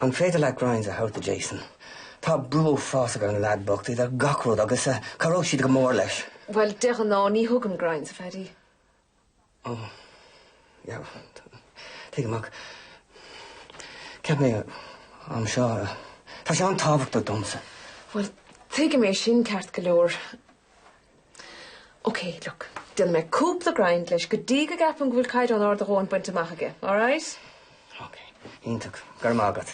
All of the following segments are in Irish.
An féidir leat grinds a thabhairt do Jason? Tá brú uafásach ar an leaid bocht, idir gach rud agus cabhróidh siad go mór leis. Bhuel, de ghnáth ní thugaim grinds, a Phaddy. Ó, yeah, tuigim ach cheap mé an t-am seo, tá sé an-tábhachtach domsa. Bhuel, tuigim é sin ceart go leor. OK, look, déanfaidh mé cúpla grind leis go dtí go gceapann go bhfuil caighdeán ard a dhóthain bainte amach aige, alright? OK, iontach, go raibh maith agat.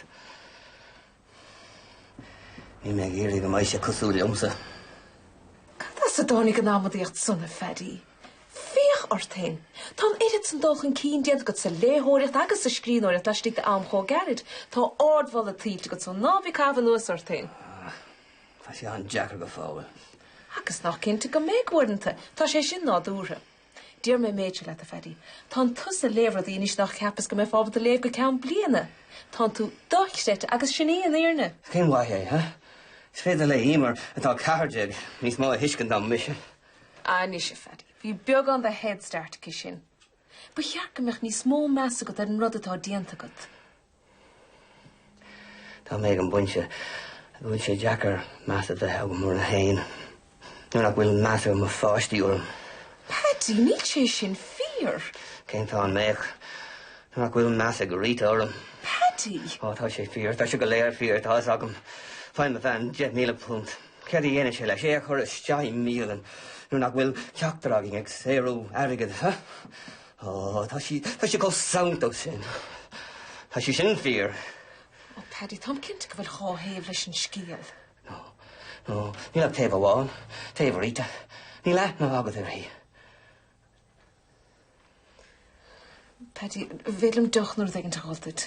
Níl mé ag iarraidh go mbeidh sé cosúil liomsa. Cad as a dtáinig an amaidíocht sin, a Phaddy? Féach ort féin. Tá an oiread san dul chun cinn déanta agat sa léitheoireacht agus sa scríbhneoireacht laistigh d'am chomh gairid. Tá ardmholadh tuillte agat san. Ná bí ag caitheamh anuas ort féin. Tá sé an-deacair go fóill. Agus nach cinnte go mbeidh uaireanta. Tá sé sin nádúrtha. Déarfaidh mé an méid seo leat, a Phaddy. Tánn tusa ag léamh rudaí anois nár cheapas go mbeifeá ábalta a léamh go ceann bliana. Tánn tú dochreidte agus sin í an fhírinne. Cén mhaith é, huh? Is féidir le Eimear, atá 14, níos mó a thuiscint ná mise. Anois, a Phaddy, bhí beagán de head start aici sin. Ba cheart go mbeadh níos mó meas agat ar an rud atá déanta agat. Tá mé ag an bpointe a bhfuil sé deacair meas a bheith agam orm féin nuair nach bhfuil meas ag mo pháistí orm. Paddy, níl sé sin fíor. Cén fáth an mbeadh? Nuair nach bhfuil meas ag Rita orm. Paddy! Ó, tá sé fíor, tá sé go léir fíor, tá fhios agam. Faigheann mo bhean deich míle punt. Céard a dhéanann sé leis? É a chur isteach i mbialann nuair nach bhfuil ceachtar againn ag saothrú airgid, huh? Ó, tá sí, tá sí chomh sanntach sin. Tá sé sin fíor. Ó, Paddy, táim cinnte go bhfuil dhá thaobh leis an scéal. Ó, ó, níl ach taobh amháin, taobh Rita. Níl aithne agat uirthi. Paddy, ba mhaith liom deoch uair éigint a fháil duit.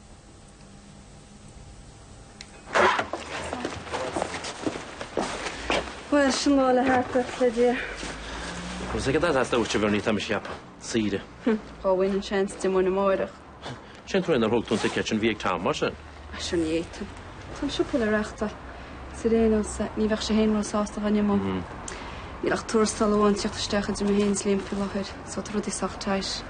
Bhuel, sin lá le thart agat, le Liam. Agus ag an dada as labhairt a bhur ní tá mise cheap. Saoire. Dá bhfaighinn an seans d'imeoinn amáireach. Cén chaoi nár thug tú an ticéad sin a bhí ag Tom, mar sin. Ara sure ní fhéadfainn. Tá an siopa le reáchtáil. Is ar aon nós a, ní bheadh sé fhéin ró sásta dhá n-imeoinn. Níl ach tuarastal amháin ag tíocht isteach idir mé fhéin is Liam faoi láthair, so tá rudaí sách tight.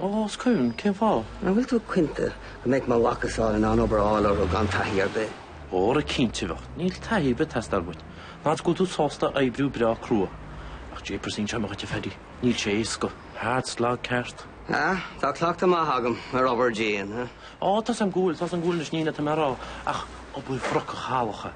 Ó, cén fáth? An bhfuil tú cinnte go mbeadh mo mhacasamhail in ann obair a fháil orthu gan taithí ar bith? Óra cinnte bheadh. Níl taithí ar bith ag teastáil uait. Ach go bhfuil tú sásta oibriú breá crua. Ach jeepers inseoidh mé dhuit a Phaddy, níl sé éasca. Hard slog ceart. Ah, tá cleachtadh maith agam ar obair dian, eh? Ó, tá a fhios a'm go bhfuil, tá a fhios a'm go bhfuil anois, ní hin é atá mé a rá ach obair bhrocach shalach.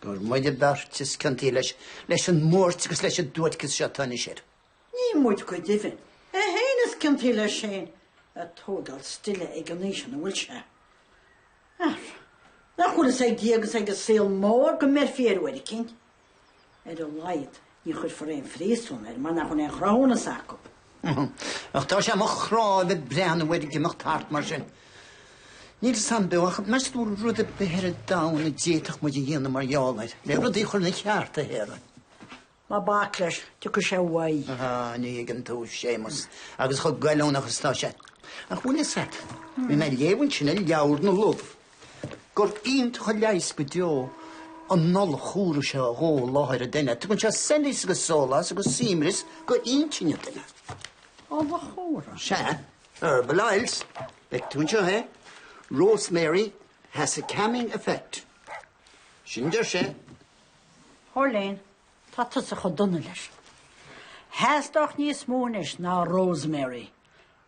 Gur muide beirt is ciontaí leis, leis an mbuairt agus leis an duairceas seo atá anois air. Ní muid go deimhin, é féin is ciontaí leis sin ag tógáil stile ag an aois ina bhfuil sé. Ach nach bhfuil fhios ag Dia agus ag an saol mór go mbeirfí air uair eicínt. Ar a laghad, ní chuirfear aon phríosún air mar nach bhfuil aon chruthúnas acu. Ach tá sé do mo chrá a bheith ag breathnú air ag imeacht thart mar sin. Níl fhios agam beo, ach meas tú an bhfuil rud ar bith ar an domhan a d'fhéadfadh muid a dhéanamh mar gheall air, le rudaí a chur ina gceart, a Shéamuis? Ná bac leis, tiocfaidh sé uaidh. Aha, ní thuigeann tú Séamus. Agus chomh goilliúnach is atá sé. Ach an bhfuil fhios agat, bhí mé ag léamh ansin i leabhar na luibh. Gur iontach an leigheas go deo an ola chumhra seo a dhó i láthair an duine. Tugann sé soilíos agus sólás agus suaimhneas go intinn an duine. Ola chumhra? Sea. Herbal oils. Feiceann tú anseo é. Rosemary has a calming effect. Sin a deir sé. A Chóilín, tá tusa chomh dona leis. Theastódh níos mó anois ná Rosemary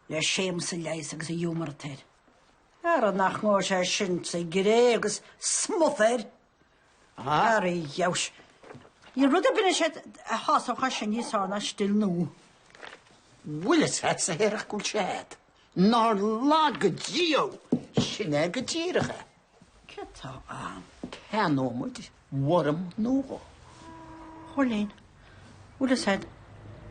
le Séamus a leigheas agus an giúmar atá air. Ara nach ngabhfaidh sé sin sa gcré agus smut air! Ara a gheabhais! Níl rud ar bith anois é a shásódh é sin níos fearr ná stil nua. Bhuaileas leat sa Hearach Cúil Sead. Nár laga Dia thú! Sin é go díreach é. Céard tá ann? Ceannóidh muid. worm nua dhó. A Chóilín, bhfuil fhios agat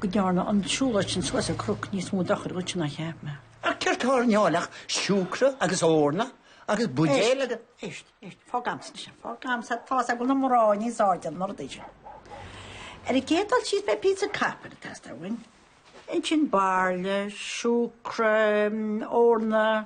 go ndearna an tsiúlóid sin suas an cnoc níos mó dochair dhuit ná a cheap mé. Ach céard tá ar an áil ach siúcra agus eorna agus buidéil agus. Éist, éist, fág agamsa anois é, fág agamsa é, tá's agam na mná níos airde ná rudaí seo. Ar an gcéad dul síos beidh píosa copair ag teastáil uainn. Ansin bairille, siúcra, eorna,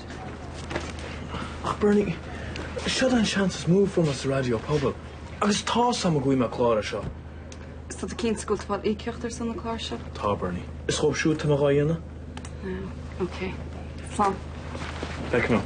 Ach Berni, seo an seans is mó a fuair mé sa raidió pobail agus tá's agam go bhfaighidh mé clár as seo. Is tá tú cinnte go bhfuil tú ag fáil íocaíocht ar son an chláir seo? Tá Berni. Is chomh siúd tá mé dhá dhéanamh. Ah, ok. Slán. Bye, come on.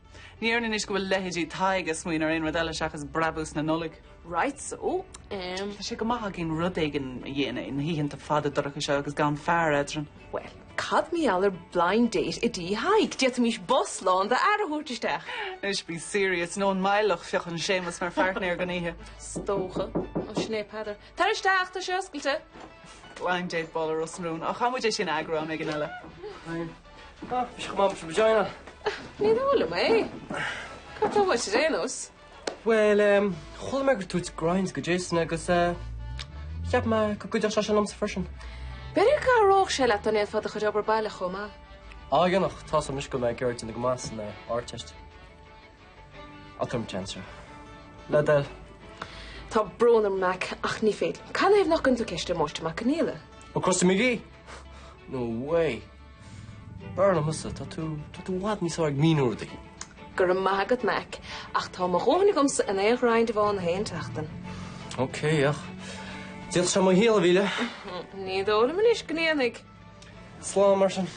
Ní dhéarfainn anois go bhfuil leithéidí Thaidhg ag smaoineamh ar aon rud eile seachas brabús na Nollag. Right so em. Tá sé go maith againn rud éigin a dhéanamh na hoícheanta fada dorcha seo agus gan fear eadrainn. Bhuel, cad mar gheall ar blind date i dTí Thaidhg? D'fhéadfaimis bus lán d'fhear a thabhairt isteach. Anois bí serious, nó an maith leat feuch an Séamus mar pháirtnéir don oíche? Is dócha. Ó, sin é Peadar. Tar isteach, tá sé oscailte. Blind date ball i Ros na Rún. Ó, caithfimid é sin a eagrú am éigin eile. Ah, maidin mhaith. Ní maith liom é. Cad atá uait ar aon nós? Bhuel, ehm, chuala mé go dtug tú grinds do Jason agus, eh, cheap mé go gcuideodh sé sin liomsa freisin. B'fhéidir go gcabhródh sé leat dá ndéanfá do chuid obair baile chomh maith. A dhéanamh, tá uaimse go n-éireoinn go maith san, eh, Ardteist. Ah come on. Le do thoil. Tá brón orm, Mac, ach ní féidir liom. Cad ina thaobh nach gcuireann tú ceist ar Mháistir Mac Conghaola? Ó, Kojak, ab ea? No way. B'fhearr liom thusa. Tá tú, tá tú i bhfad níos fearr ag míniú rudaí. Go raibh maith agat, Mac, ach tá mo dhóthain agamsa in aon ghrind amháin in aon tseachtain. OK, ach d'fhéadfadh sé mo shaol a mhilleadh. Ní dóigh liom anois go ndéanfaidh. Slán mar sin.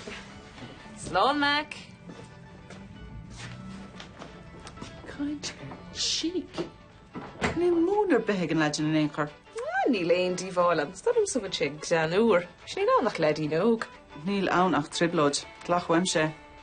Slán Mac. Chancer. Níl múineadh ar bith ag an leaid sin in aon chor. Ah, níl aon díobháil ann. Is dóigh liom go bhfuil sé greannmhar. Níl ann ach leaidín óg. Níl ann ach trioblóid. Glac uaimse é.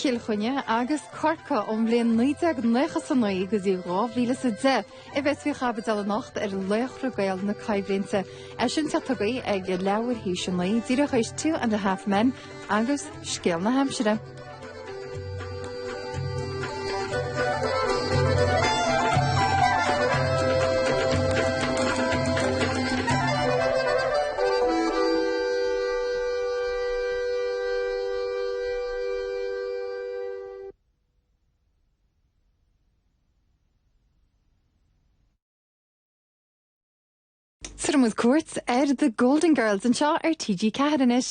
Cill Chainnigh agus Corcaigh ón mbliain 1999 go dtí 2010 a bheas faoi chaibidil anocht ar Laochra Gael na Coimhlinte. É sin ar TG4 ag leathuair tar éis a naoi díreach tar éis Two and a Half Men agus scéal na haimsire. Tabharfaimid cuairt ar The Golden Girls anseo ar TG4 anois.